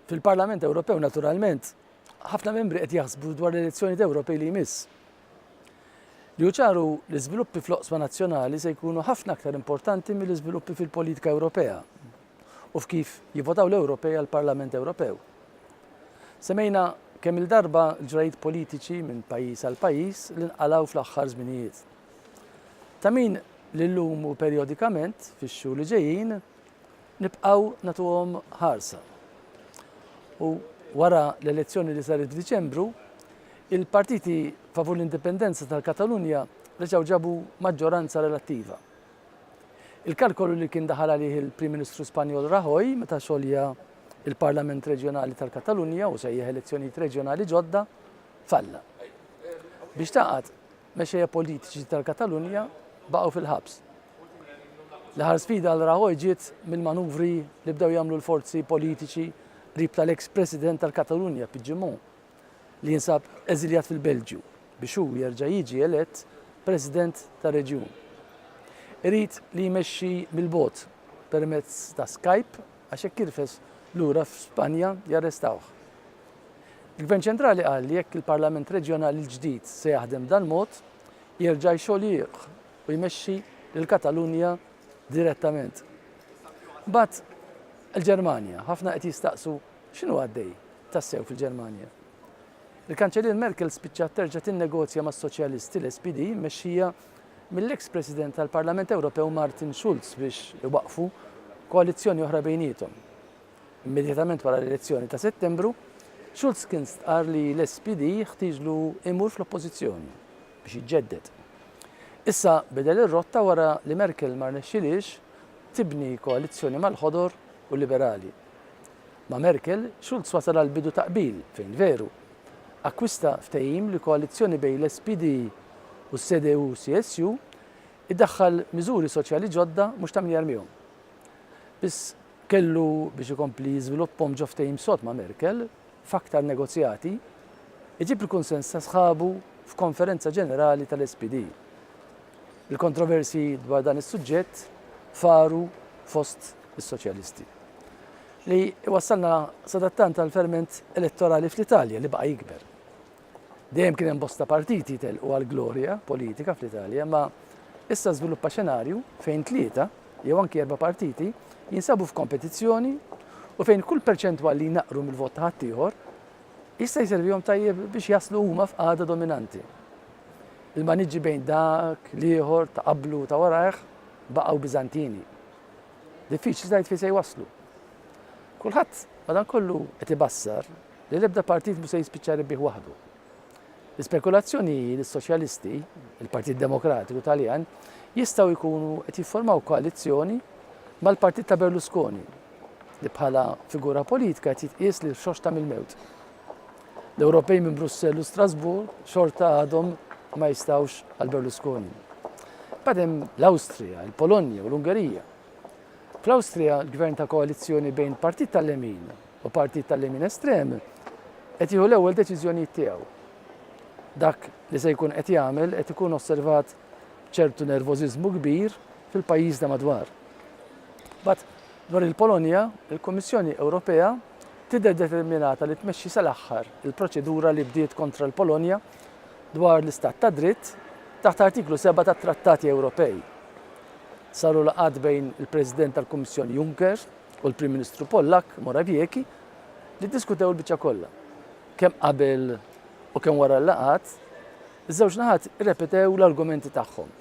Fil-Parlament Ewropew naturalment ħafna membri qed jaħsbu dwar l-elezzjonijiet Ewropej li jmiss. Li ċaru l-iżviluppi fl-oqsma nazzjonali se jkunu ħafna aktar importanti mill-iżviluppi fil-politika Ewropea u f'kif jivvotaw l-Ewropej għall-Parlament Ewropew. Semejna kemm il-darba l-ġrajiet politiċi minn pajjiż għal pajjiż li nqalgħu fl-aħħar żminijiet. Ta' min li llum u perjodikament fix-xhur li ġejjin nibqgħu nagħtuhom ħarsa. U wara l-elezzjoni li saret f'Diċembru, il-partiti favur l-indipendenza tal-Katalunja reġgħu ġabu maġġoranza relattiva. Il-kalkolu li kien daħal għalih il-Prim Ministru Spanjol Rajoy meta xolja il-Parlament Reġjonali tal-Katalunja u sejjaħ elezzjonijiet reġjonali ġodda falla. Biex taqgħad mexxejja politiċi tal-Katalunja baqgħu fil-ħabs. L-aħħar sfida għal Rajoy ġiet mill-manuvri li bdew jagħmlu l-forzi politiċi qrib tal-eks President tal-Katalunja Puigdemont li jinsab eżiljat fil-Belġju biex hu jerġa' jiġi elett President tar-reġjun. Irid li jmexxi mill-bogħod permezz ta' Skype għax jekk jirfes lura f'Spanja jarrestawh. Il-Gvern Ċentrali qal li jekk il-Parlament Reġjonali l-ġdid se jaħdem b'dal-mod, jerġa' jxoljieh u jmexxi lill-Katalunja direttament. Mbagħad il-Ġermanja, ħafna qed jistaqsu x'inhu għaddej tassew fil-Ġermanja. Il-Kanċellier Merkel spiċċat terġa' tinnegozja mas-Soċjalisti, l-SPD, mmexxija mill-eks President tal-Parlament Ewropew Martin Schulz biex iwaqqfu koalizzjoni oħra bejniethom. Immedjatament wara l-elezzjoni ta' Settembru, Schulz kien stqarr li l-SPD jeħtieġlu imur fl-Oppożizzjoni biex jiġġedded. Issa bidel ir-rotta wara li Merkel ma rnexxilhiex tibni koalizzjoni mal-Ħodor u l-Liberali. Ma' Merkel, Schulz wasal għal bidu ta' qbil, fejn veru, akkwista ftehim li koalizzjoni bejn l-SPD u s-CDU-CSU iddaħħal miżuri soċjali ġodda mhux ta' min jarmihom. Biss kellu biex ikompli jiżviluppahom ġo ftehim sod ma' Merkel f'aktar negozjati, iġib il-kunsens ta' sħabu f'Konferenza Ġenerali tal-SPD. Il-kontroversji dwar dan is-suġġett faru fost is-Soċjalisti. li jwassalna sadattant għall-ferment elettorali fl-Italja li baqa' jikber. Dejjem kien hemm bosta partiti jtellqu għall-glorja politika fl-Italja, imma issa żviluppa xenarju fejn tlieta jew anki erba' partiti jinsabu f'kompetizzjoni u fejn kull perċentwal li jnaqqru mill-vot ta' ħaddieħor jista' jservihom tajjeb biex jaslu huma f'qagħda dominanti. Il-maniġġi bejn dak, l-ieħor, ta' qablu u ta' warajh baqgħu Biżantini. Diffiċli tgħid fejn se jwasslu. Kulħadd madankollu qed ibassar li l-ebda partit mhux se jispiċċa rebbieħ waħdu. L-ispekulazzjoni hi li s-Soċjalisti, il-Partit Demokratiku Taljan, jistgħu jkunu qed jifformaw koalizzjoni mal-partit ta' Berlusconi li bħala figura politika qed jitqies li xoxta mill-mewt. L-Ewropej minn Brussell u Strasburg xorta għadhom ma jistawx għal Berlusconi. Badem l-Awstrija, il-Polonja u l-Ungerija. Fl-Awstrija, l-gvern ta' koalizzjoni bejn partit tal-lemin u partit tal-lemin estrem qed jieħu l-ewwel deċiżjonijiet tiegħu. Dak li se jkun qed jagħmel qed ikun osservat ċertu nervożiżmu kbir fil-pajjiż da madwar. But Dwar il-Polonja, il-Kummissjoni Ewropea tidher determinata li tmexxi sal-aħħar il-proċedura li bdiet kontra l-Polonja dwar l-istat tad-dritt taħt Artiklu 7 tat-Trattati Ewropej. Saru laqgħat bejn il-President tal-Kummissjoni Juncker u l-Prim Ministru Pollakk Morawiecki li ddiskutew il-biċċa kollha. Kemm qabel u kemm wara l-laqgħat, iż-żewġ naħat irrepetew l-argumenti tagħhom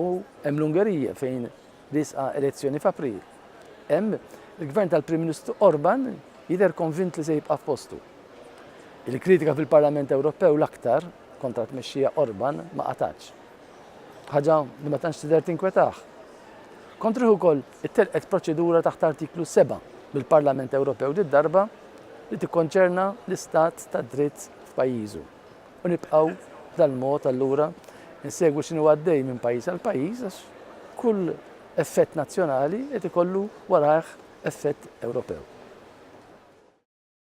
u hemm l-Ungerija fejn Riesqa elezzjoni f'April. Hemm, il-Gvern tal-Prim Ministru Orban jidher konvint li se jibqa' f'postu. Il-kritika fil-Parlament Ewropew l-aktar kontra t-tmexxija Orban ma qatgħatx. Ħaġa li ma tantx tidher tinkwetah. Kontrih ukoll ittelqet proċedura taħt Artiklu 7 mill-Parlament Ewropew did-darba li tikkonċerna l-istat tad-dritt f'pajjiżu. u nibqgħu b'dal mod allura insegwu x'inhu għaddej minn pajjiż għal pajjiż għax kull effett nazzjonali qed ikollu warajh effett Ewropew.